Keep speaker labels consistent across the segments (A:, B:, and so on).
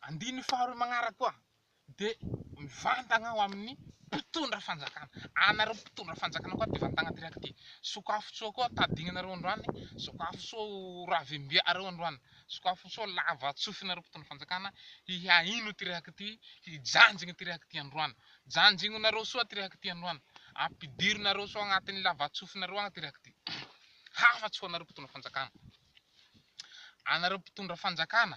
A: Andininy faharoa magnaraka koa dia mivantagna ho amin'ny mpitondra fanjakana. Anareo mpitondra fanjakana koa dia vantagna direct e. Sokafo soa koa tadignanareo androany, sokafo soa ho ravimbia'areo androany, sokafo soa lava tsofinareo mpitondra fanjakana hihaino direct, hijanjigny direct androany. Janjigninareo soa direct androany, ampidirinareo soa agnatin'ny lava tsofinareo agny direct. Hafatsy ho anareo mpitondra fanjakana. Anareo mpitondra fanjakana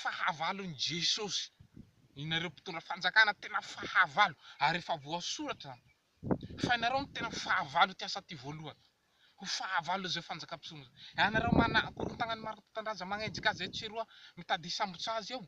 A: Fahavalon'i Jesosy, ianareo mpitondra fanjakana tena fahavalo ary efa voasoratra zany fa ianareo no tena fahavalo ity asa ity voalohany, ho fahavalo izay fanjaka mpisolo izay, ianareo mana korontagnan'i Marototandraza magnenjika azy etsy sy eroa mitady hisambotsa azy eo,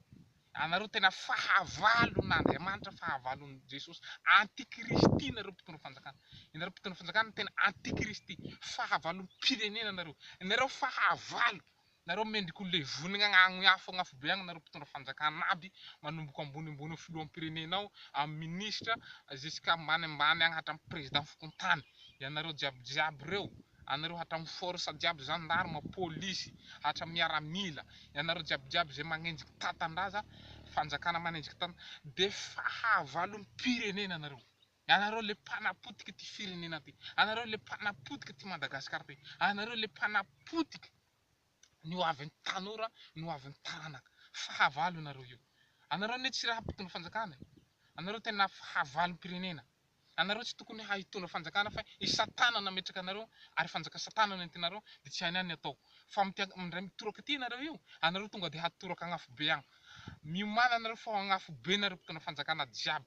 A: ianareo tena fahavalon'Andriamanitra, fahavalon'i Jesosy, antikristy nareo mpitondra fanjakana, ianareo mpitondra fanjakana tena antikristy, fahavalom-pirenena nareo, ianareo fahavalo Nareo mendrika ho levonigna agny afo agn'afo be agny nareo mpitondra fanjakana aby manomboko ambonimbony eo filoham pirenena ao am ministra jusqu'à ambany ambany agny hatram président fokontany ianareo jiaby jiaby reo anareo hatram force jiaby gendarme polisy hatram miaramila ianareo jiaby jiaby zay magnenjika tantandraza fanjakana manenjika tan de fahavalom pirenena nareo. Anareo le mpanapotika ty firenena ty, anareo le mpanapotika ty Madagascar ty, anareo le mpanapotika ny ho avin'ny tanora, ny ho avin'ny taranaka, fahavalo nareo io, anareo ne tsy raha mpitondra fanjakana e, anareo tena fahavalom-pirenena, anareo tsy tokony ha hitondra fanjakana fa i satana nametraka anareo ary fanjaka satana no entinareo de tsy hainay ny atao fa mitia mindray mitoraka ty nareo io, anareo tonga de hatoraka agnafobe agny, miomana nareo fa ho agnafobe nareo mpitondra fanjakana jiaby.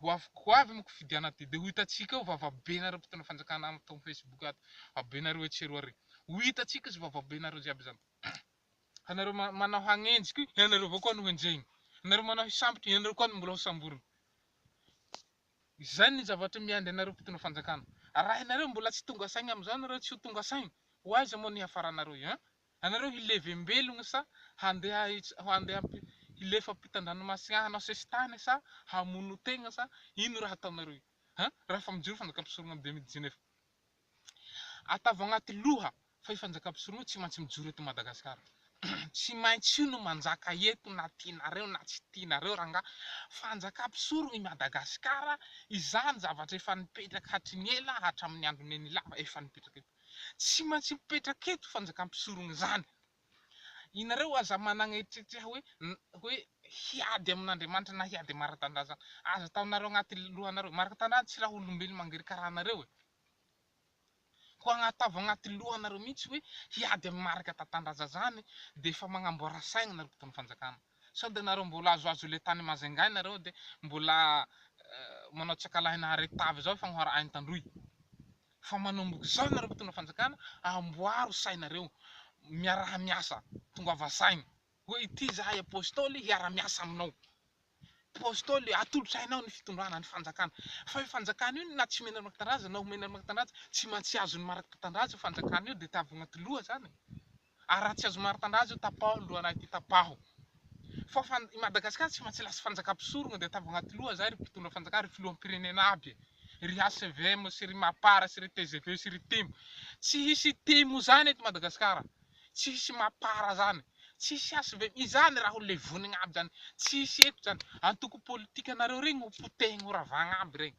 A: Ho avy ko avy ny kofidiana aty de ho hitantsika eo vavabenareo mpitondra fanjakana ato am facebook ato vavabenareo etsy sy eroa re ho hitantsika izy vavabenareo jiaby zany fa nareo manao hagnenjika io ianareo avao koa no henjehina nareo manao hisambotra ianareo koa no mbola ho samborina izay ny zavatra miandry anareo mpitondra fanjakana arahinareo mbola tsy tonga saigna amizao nareo tsy ho tonga saigna ho aiza moa ny hiafaranareo hein Anareo hilevem-belogno sa handeha handeha hilefa ampitan-dranomasina hanao sesitany sa hamono tegna sa ino raha ataonareo io ha raha efa mijoro fanjakam-pisorogno am deux mille dix neuf atavo agnaty loha fa io fanjakam-pisorogno io tsy maintsy mijoro eto Madagasikara tsy maintsy io no manjaka eto na tianareo na tsy tianareo rangah fanjakam-pisorogno i Madagasikara izany zavatra efa nipetraka hatry ny ela hatramin'ny andron'i Nenilava efa nipetraka eto. Tsy maintsy mipetraka eto fanjakan'ny mpisorona izany. Ianareo aza manana eritreritreha hoe hoe hiady amin'Andriamanitra na hiady amin'i Maratandraha izany. Aza ataonareo anaty lohanareo. Maratandraha tsy raha olombelona mangery karaha anareo e. Koa ataovy anaty lohanareo mihitsy hoe hiady amin'i Marikatantandraza izany dia efa magnamboara saigna ianareo mpitondra fanjakana. Sao dia ianareo mbola azoazo ilay tany Majunga ianareo dia mbola manao tsy ankalahy nahareo tavy izao efa ho arahin'i Tandroy. Fa manomboka izao ianareo mpitondra fanjakana amboaro sainareo, miaraha miasa, tongava saina, hoe ity izahay Apostoly hiara miasa aminao, Apostoly atolotra hainao ny fitondrana ny fanjakana, fa io fanjakana io na tsy omenareo Marc-Tanindrazana na omenareo Marc-Tanindrazana tsy mantsy azon'ny Marc-Tanindrazana io fanjakana io dia tavogna atiloha izany. Ary raha tsy azo maritandra azy io tapaho ny lohanay ity tapaho fa fa i Madagascar tsy maintsy lasa fanjakam-pisorogna dia ataovy agnaty loha zay ry mpitondra fanjakana ry filoham-pirenena aby ry HVM sy ry Mapar sy ry tgv sy ry tim tsy hisy tim zany eto Madagascar tsy hisy Mapar zany tsy hisy HVM izany raha ho levonigna aby zany tsy hisy eto zany antoko politikanareo regny ho potehigny ho ravagna aby regny.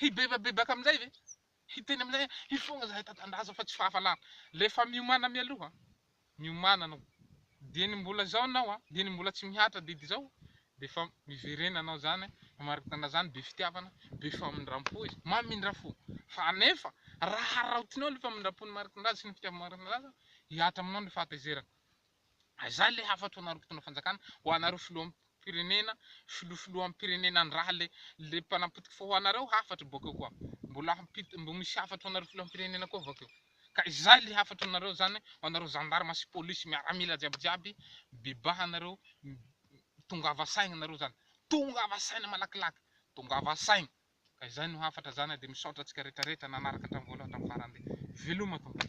A: Hibebabebaka amin'izay ve? Hiteny amin'izay hoe, hifoha izahay tatandraza fa tsy fahavalana. Rehefa miomana mialoha, miomana anao, dia ny mbola izao anao, dia ny mbola tsy mihatra didy izao, dia efa miverena anao izany, mariky tatandraza, be fitiavana, be famindram-po izy, mamindra fo. Fa anefa, raha haraotinao ilay famindram-po ny mariky ny tatandraza sy ny fitiava-mariky ny tatandraza, hihatra aminao ny fahatezerana. Izany ilay hafatoanareo mpitondra fanjakana ho anareo filoham pirenena filoha filoham pirenena ndraha le le mpanapotika fa ho anareo hafatra boakeo koa mbola hampita mbo misy hafatoanareo filoham pirenena koa vakeo ka izay le hafatoanareo izany ho anareo zandarma sy polisy miaramila jiaby jiaby bebahanareo tongava saigna nareo zany tongava saina malakilaky tongava saigna ka izay no hafatra zany de misaotra antsika retraretra nanaraka hatramin'ny voalohany hatramin'ny farany veloma tompoko.